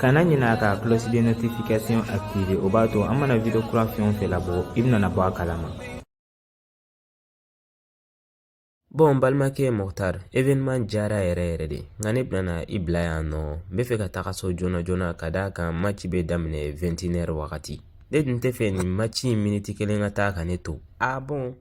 kana ɲinɛ ka cloche de notification activer o b'a to an mana video kura fɛn o fɛn labɔ i bɛna bɔ a kalama bɔn n balimakɛ moctar événement diyara yɛrɛ yɛrɛ de nka ne bɛna i bila yan nɔ n bɛ fɛ ka taga so joona joona ka d'a kan maci bɛ daminɛ 21h wagati ne tun tɛ fɛ nin maci in miniti kelen ka taa ka ne to a bɔn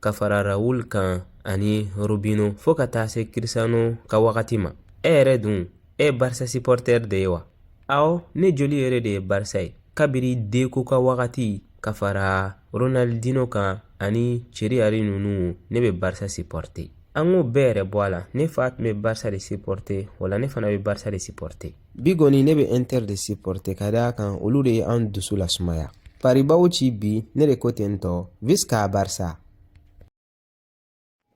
ka fara raul kan ani robinho fo ka taa se cristiano ka wagati ma e yɛrɛ dun e barisa sipɔrɔtɛri de ye wa awɔ ne joli yɛrɛ de ye barisa ye kabiri deco ka wagati ka fara ronaldinho kan ani thierry henry ninnu ne bɛ barisa sipɔrɔte an k'o bɛɛ yɛrɛ bɔ a la ne fa tun bɛ barisa de sipɔrɔte o la ne fana bɛ barisa de sipɔrɔte bi kɔni ne bɛ inter de supporte ka d'a kan olu de ye an dusu lasumaya paris b'aw ci bi ne de ko ten tɔ visca barisa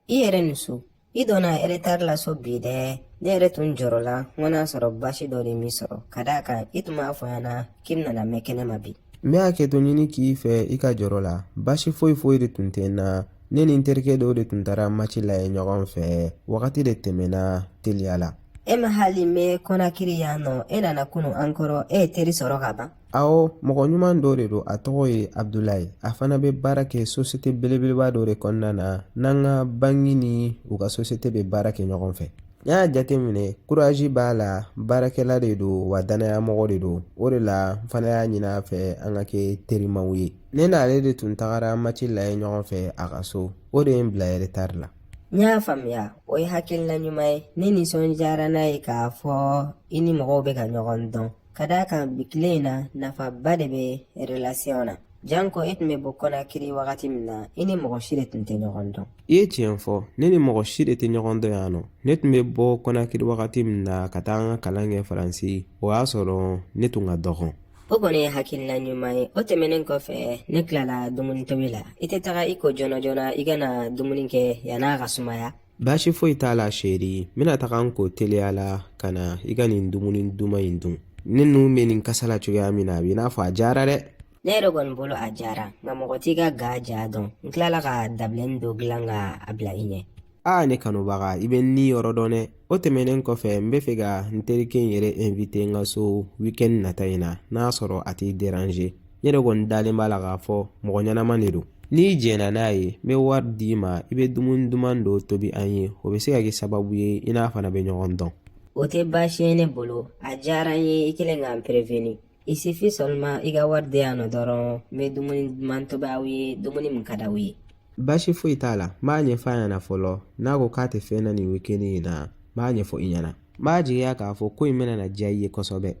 i yɛrɛ ni su i donna eretari la so bi dɛ ne yɛrɛ tun jɔrɔla n ko n'a sɔrɔ baasi dɔ de m'i sɔrɔ ka d'a kan i tun m'a fɔ n ɲɛna k'i bɛna mɛn kɛnɛ ma bi n bɛ hakɛto ɲini k'i fɛ i ka jɔrɔ la baasi foyi foyi de tun tɛ n na ne ni n terikɛ dɔw de tun taara maci lajɛ ɲɔgɔn fɛ wagati de tɛmɛna teliya la e ma hali mɛn kɔnakiri yan nɔ e nana kunu an kɔrɔ e ye teri sɔrɔ ka ban awɔ mɔgɔ ɲuman dɔ de don a tɔgɔ ye abudulayi a fana bɛ baara kɛ sosiyete belebeleba dɔ de kɔnɔna na n'an ka banki ni u ka sosiyete bɛ baara kɛ ɲɔgɔn fɛ n y'a jateminɛ kurazi b'a la baarakɛla de don wa danaya mɔgɔ de don o de la n fana y'a ɲini a fɛ an ka kɛ terimaw ye ne n'ale de tun tagara maci lajɛ ɲɔgɔn fɛ a ka so o de ye n bila eretari la n y'a faamuya o ye hakilina ɲuman ye ne nisɔndiyara n'a ye k'a fɔ i ni mɔgɔw bɛ ka ɲɔgɔn dɔn ka d'a kan bi tile in na nafaba de bɛ relasiyɔn na janko e tun bɛ bɔ kɔnakiri wagati min na i ni mɔgɔ si de tun tɛ ɲɔgɔn dɔn i ye tiɲɛ fɔ ne ni mɔgɔ si de tɛ ɲɔgɔn dɔn yan nɔ ne tun bɛ bɔ kɔnakiri wagati min na ka taa n ka kalan kɛ faransi o y'a sɔrɔ ne tun ka dɔgɔn o kɔni ye hakilina ɲuman ye o tɛmɛnen kɔfɛ ne tilala dumuni tobi la i tɛ taga i ko joona joona i ka na dumuni kɛ yann'a ka sumaya baasi foyi t'a la sheri n bɛna taga n ko teliya la ka na i ka nin dumuni duman in dun ne nun bɛ nin kasa la cogoya min na a b'i n'a fɔ a diyara dɛ ne yɛrɛ kɔni bolo a diyara nka mɔgɔ t'i ka ga diya dɔn n tilala ka dabileni dɔ dilan ka a bila i ɲɛ aa ne kanubaga i bɛ n ni yɔrɔ dɔn dɛ o tɛmɛnen kɔfɛ n bɛ fɛ ka n terikɛ in yɛrɛ invite n ka so weekend nata in na n'a sɔrɔ a t'i déranger ne yɛrɛ kɔni dalen b'a la k'a fɔ mɔgɔ ɲɛnama de don n'i jɛnna n'a ye n bɛ wari d'i ma i bɛ dumuni duman dɔ tobi an ye o bɛ se ka kɛ sababu ye i n'a fana bɛ ɲɔgɔn dɔn o tɛ baasi ye ne bolo a diyara n ye i kɛlen ka n prévenir il suffit seulement i ka wari di yan nɔ dɔrɔn n bɛ dumuni duman tobi aw ye dumuni min ka di aw ye baasi foyi t'a la n b'a ɲɛfɔ a ɲɛna fɔlɔ n'a ko k'a tɛ fɛn na nin weekend in na n b'a ɲɛfɔ i ɲɛna n b'a jigiya k'a fɔ ko in bɛna diya i ye kosɛbɛ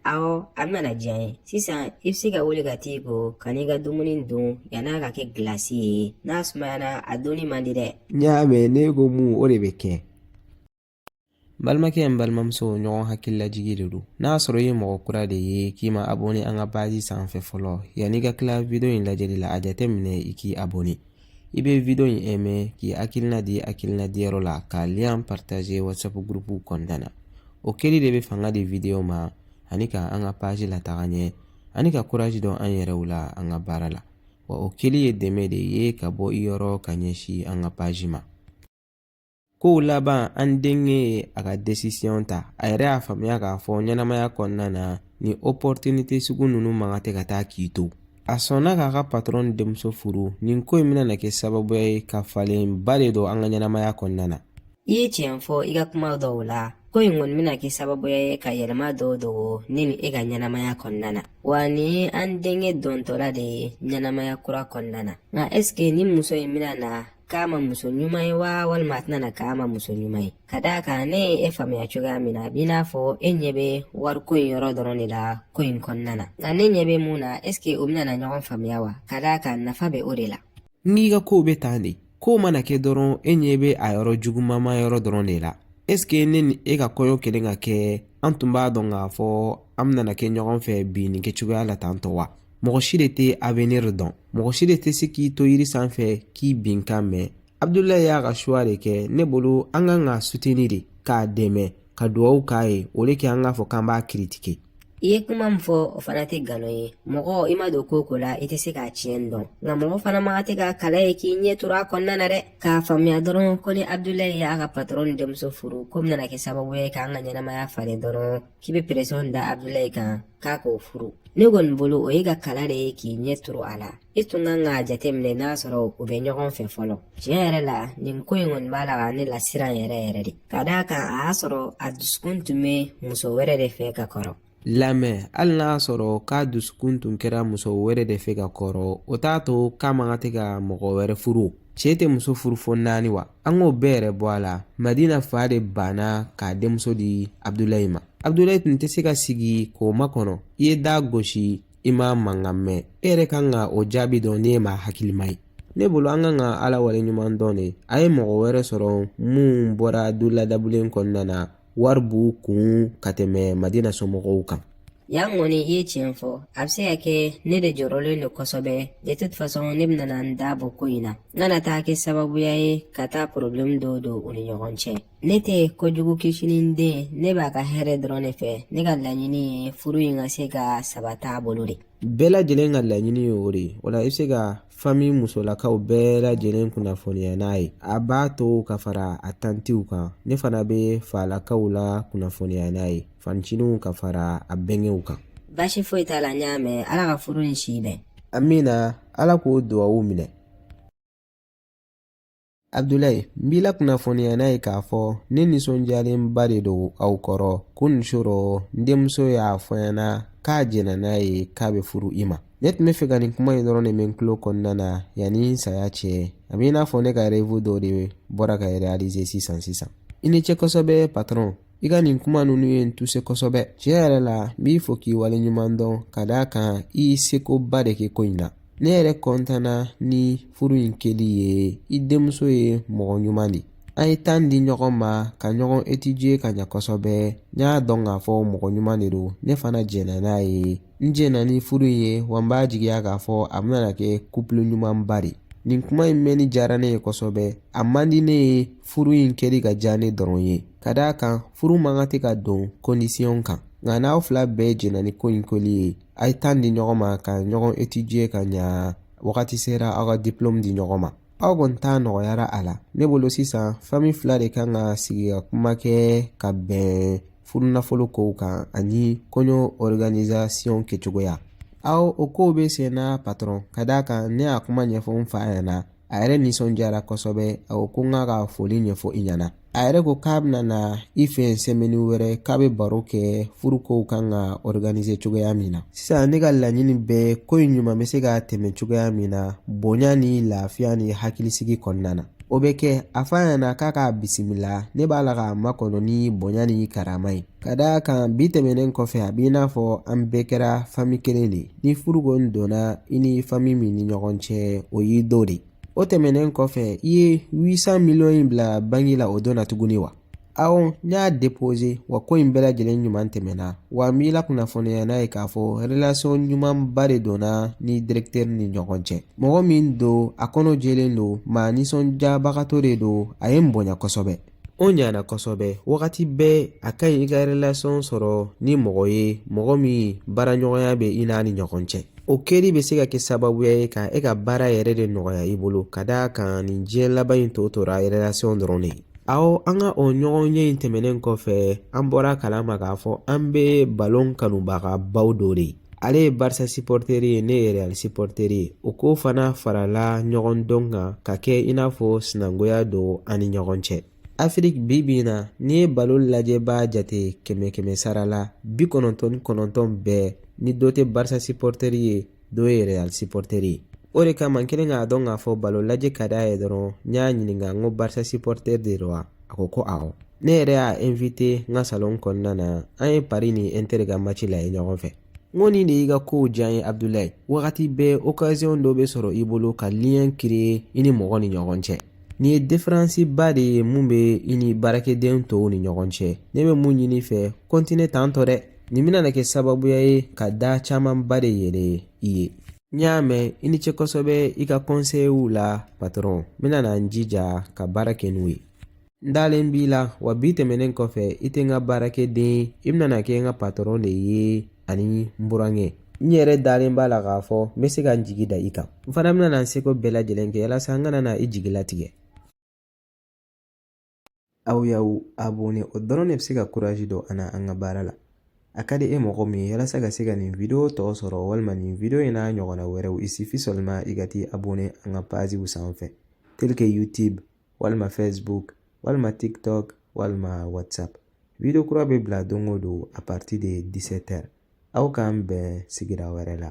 awɔ a bɛna diya n ye sisan i bɛ se ka wuli ka t'i ko ka n'i ka dumuni dun yann'a ka kɛ gilasi ye n'a sumayana a dunni man di dɛ n y'a mɛn ne ko mun o de bɛ kɛ balimakɛ n balimamuso ɲɔgɔn hakililajigi de don n'a sɔrɔ i ye mɔgɔ kura de ye k'i ma abonne an ka paazi sanfɛ fɔlɔ yanni i ka tila wideyo in lajɛli la a jateminɛ i k'i abonne i bɛ wideyo in ɛmɛ k'i hakilina di hakilina di yɔrɔ la ka liyan paritaze wasapu gurupuw kɔnɔna na o kɛli de bɛ fanga di wideyo ma ani ka an ka paazi lataga ɲɛ ani ka kurazi don an yɛrɛw la an ka baara la wa o kɛli ye dɛmɛ de ye ka bɔ i yɔrɔ ka ɲɛsin an ka paazi ma Kow laban an denkɛ ye a ka desisiɔn ta a yɛrɛ y'a faamuya k'a fɔ ɲɛnamaya kɔnɔna na nin opɔritinite sugu ninnu man kan tɛ ka taa k'i to a sɔnna k'a ka patɔrɔn denmuso furu nin ko in bɛna kɛ sababu ye ka falenba de don an ka ɲɛnamaya kɔnɔna na i ye tiɲɛ fɔ i ka kuma dɔw la ko in kɔni bɛna kɛ sababu ye ka yɛlɛma dɔw don ne ni e ka ɲɛnamaya kɔnɔna na wa nin ye an denkɛ dontɔla de ye ɲɛnamaya kura kɔnɔna na nka ɛseke nin muso in bɛna na k'a ma muso ɲuman wa walima a tɛna na k'a ma muso ɲuman ye ka d'a kan ne ye e faamuya cogoya min na a b'i n'a fɔ e ɲɛ bɛ wariko in yɔrɔ dɔrɔn de la ko in kɔnɔna na nka ne ɲɛ bɛ mun na ɛseke u bɛna na ɲɔgɔn faamuya wa ka d'a kan nafa bɛ o de la n'i ka kow bɛ tan de kow mana kɛ dɔrɔn e ɲɛ bɛ a yɔrɔ jugumama yɔrɔ dɔrɔn de la ɛseke ne ni e ka kɔɲɔ kelen ka kɛ an tun b'a dɔn k'a fɔ an bɛna kɛ ɲɔgɔn fɛ bi nin kɛcogoya la tan tɔ wa mɔgɔ si de tɛ avenir dɔn mɔgɔ si de tɛ se k'i to yiri sanfɛ k'i binkan mɛn abudulayi y'a ka suwa de kɛ ne bolo an kan k'a suteni de k'a dɛmɛ ka dugawu k'a ye au lieu que an k'a fɔ k'an b'a kiritike i ye kuma min fɔ o fana tɛ nkalon ye mɔgɔ i ma don ko o ko la i tɛ se k'a tiɲɛ dɔn nka mɔgɔ fana man kan tɛ ka kala ye k'i ɲɛ turu a kɔnɔna na dɛ k'a faamuya dɔrɔn ko ni abudulayi y'a ka patɔrɔn denmuso furu k'o bɛna kɛ sababu ye k'an ka ɲɛnamaya falen dɔrɔn k'i bɛ pɛrɛsiyɔn da abudulayi kan k'a k'o furu ne kɔni bolo o ye ka kala de ye k'i ɲɛ turu a la i tun kan k'a jateminɛ n'a sɔrɔ u bɛ ɲɔgɔn fɛ fɔlɔ tiɲɛ yɛrɛ la nin ko in kɔni b'a la ka ne lasiran yɛrɛ yɛrɛ de ka d'a kan a y'a sɔrɔ a dusukun tun bɛ muso wɛrɛ de fɛ ka kɔrɔ lamɛn hali n'a y'a sɔrɔ k'a dusukun tun kɛra muso wɛrɛ de fɛ ka kɔrɔ o t'a to k'a man kan tɛ ka mɔgɔ wɛrɛ furu cɛ tɛ muso furu fo naani wa an k'o bɛɛ yɛrɛ bɔ a la madina fa de banna k'a denmuso di abudulayi ma abudulayi tun tɛ se ka sigi k'o makɔnɔ i ye da gosi i ma mankan mɛn e yɛrɛ kan ka o jaabi dɔn n'i ye maa hakilima ye ne bolo an kan ka ala waleɲuman dɔn de a ye mɔgɔ wɛrɛ sɔrɔ mun bɔra du ladabulen kɔnɔna na wari b'u kun ka tɛmɛ madi n'a somɔgɔw kan yan kɔni i ye tiɲɛ fɔ a bɛ se ka kɛ ne de jɔrɔlen don kosɛbɛ de toute façon ne bɛna na n da bɔ ko in na n kana taa kɛ sababuya ye ka taa problème dɔw don u ni ɲɔgɔn cɛ ne tɛ kojugu kisinin den ne b'a ka hɛrɛ dɔrɔn de fɛ ne ka laɲini ye furu in ka se ka sabata a bolo de bɛɛ lajɛlen ka laɲini ye o de ye o la i bɛ se ka fami musolakaw bɛɛ lajɛlen kunnafoniya n'a ye a ba tɔw ka fara a tantiw kan ne fana bɛ falakaw la kunnafoniya n'a ye fancininw ka fara a bɛnkɛw kan baasi foyi t'a la n y'a mɛn ala ka furu ni si bɛn amina ala k'o duwawu minɛ abudulayi n b'i la kunnafoniya n'a ye k'a fɔ ne nisɔndiyalenba de don aw kɔrɔ kunun su rɔ n denmuso y'a fɔ n ɲɛna k'a jɛnna n'a ye k'a bɛ furu i ma ne tun b'a fɛ ka nin kuma in dɔrɔn de mɛn n tulo kɔnɔna na yanni n saya cɛ a bɛ i n'a fɔ ne ka rêve dɔ de bɔra ka realize sisan sisan i ni ce kosɛbɛ patɔrɔn i ka nin kuma ninnu ye n tuse kosɛbɛ tiɲɛ yɛrɛ la n b'i fo k'i wale ɲuman dɔn ka d'a kan i y'i sekoba de kɛ ko in na ne yɛrɛ kɔntanna ni furu in kɛli ye i denmuso ye mɔgɔ ɲuman de an ye tan di ɲɔgɔn ma ka ɲɔgɔn etije ka ɲa kosɛbɛ n y'a dɔn k'a fɔ mɔgɔ ɲuman de don ne fana jɛnna n'a ye n jɛnna ni furu in ye wa n b'a jigiya k'a fɔ a bɛna kɛ kupulu ɲumanba de ye nin kuma in mɛnni diyara ne ye kosɛbɛ a man di ne ye furu in kɛli ka diya ne dɔrɔn ye ka d'a kan furu man kan tɛ ka don kondisiyɔn kan nka n'aw fila bɛɛ jɛnna ni ko in kɛli ye a ye tan di ɲɔgɔn ma ka ɲɔgɔn etidiye ka ɲa wagati sera aw ka diplɔmu di ɲɔgɔn ma aw kɔni ta nɔgɔyara a la ne bolo sisan fami fila de kan ka sigi ka kuma kɛ ka bɛn furu nafolo kow kan ani kɔɲɔ organisation kɛcogoya awɔ o kow bɛ sen na patɔrɔn ka d'a kan ne y'a kuma ɲɛfɔ n fa ɲɛna a yɛrɛ nisɔndiyara kosɛbɛ a ko ko n k'a ka foli ɲɛfɔ i ɲɛna a yɛrɛ ko k'a bɛna na i fɛ sɛmɛni wɛrɛ k'a bɛ baro kɛ furu kow kan ka organise cogoya min na sisan ne ka laɲini bɛɛ ko in ɲuman bɛ se ka tɛmɛ cogoya min na bonya ni lafiya ni hakilisigi kɔnɔna na o bɛ kɛ a fɔ a ɲɛna k'a k'a bisimila ne b'a la k'a makɔnɔ ni bonya ni karama ye ka d'a kan bi tɛmɛnen kɔfɛ a b'i n'a fɔ an bɛɛ kɛra fami kelen de ye ni furu kɔni donna i ni fami min ni ɲɔgɔn cɛ o y'i dɔ de ye o tɛmɛnen kɔfɛ i ye san miliyɔn in bila banki la o don na tuguni wa Awɔ n y'a déposer wa ko in bɛɛ lajɛlen ɲuman tɛmɛna wa n b'i la kunnafoniya n'a ye k'a fɔ relation ɲumanba de donna n ni dɛrɛkitɛri ni ɲɔgɔn cɛ mɔgɔ min don a kɔnɔ jɛlen don maa nisɔndiyabagatɔ de don a ye n bonya kosɛbɛ o ɲana kosɛbɛ wagati bɛɛ a ka ɲi i ka relation sɔrɔ ni mɔgɔ ye mɔgɔ min baaraɲɔgɔnya bɛ i n'a ni ɲɔgɔn cɛ o kɛli bɛ se ka kɛ sababuya ye ka e ka baara yɛrɛ de nɔgɔya i bolo ka d'a kan nin diɲɛ laban in tɔ tora relation dɔrɔn de ye aw an ka o ɲɔgɔn ye in tɛmɛnen kɔfɛ an bɔra kala ma k'a fɔ an bɛɛ balon kanubaga baw dɔ de ye ale ye barisa supporter ye ne ye real supporter ye o ko fana farala ɲɔgɔn dɔn kan ka kɛ i n'a fɔ sinankunya don an ni ɲɔgɔn cɛ afiriki bi bi in na n'i ye balon lajɛbaa jate kɛmɛ kɛmɛ sara la bi kɔnɔntɔn ni kɔnɔntɔn bɛɛ ni dɔ tɛ barisa supporter ye dɔ ye real supporter ye o de kama n kɛlen k'a dɔn k'a fɔ balon lajɛ ka d'a ye dɔrɔn n y'a ɲininka n ko barisa supporter de don wa a ko ko awɔ ne yɛrɛ y'a invite n ka salon kɔnɔna na an ye pari ni inter ka match lajɛ ɲɔgɔn fɛ n ko nin de y'i ka kow diya n ye abudulayi wagati bɛɛ occasion dɔ bɛ sɔrɔ i bolo ka lien créer i ni mɔgɔ ni ɲɔgɔn cɛ Nin ye différence ba de ye min bɛ i ni baarakɛden tɔw ni ɲɔgɔn cɛ ne bɛ mun ɲini i fɛ kɔntiniye tan tɔ dɛ nin bɛna na kɛ sababuya ye ka da camanba de yɛlɛ i ye n y'a mɛn i ni ce kosɛbɛ i ka kɔnseyiw la patɔrɔn n bɛna na n jija ka baara kɛ n'u ye n dalen b'i la wa bi tɛmɛnen kɔfɛ i tɛ n ka baarakɛden ye i bɛna na kɛ n ka patɔrɔn de ye ani n burankɛ n yɛrɛ dalen b'a la k'a fɔ n bɛ se ka n jigi da i kan n fana bɛna na n seko bɛɛ lajɛlen kɛ walasa n kana na i jigi latigɛ aw y'aw abonné o dɔrɔn de bɛ se ka kurazi don an na an ka baara la a ka di e mɔgɔ min ye walasa ka se ka nin video tɔ sɔrɔ walima nin video in n'a ɲɔgɔnna wɛrɛw il suffit seulement i ka t'i abonné an ka paziw sanfɛ tel que youtube walima facebook walima tiktok walima whatsapp video kura bɛ bila don o don a partir de 17 heures aw k'an bɛn sigira wɛrɛ la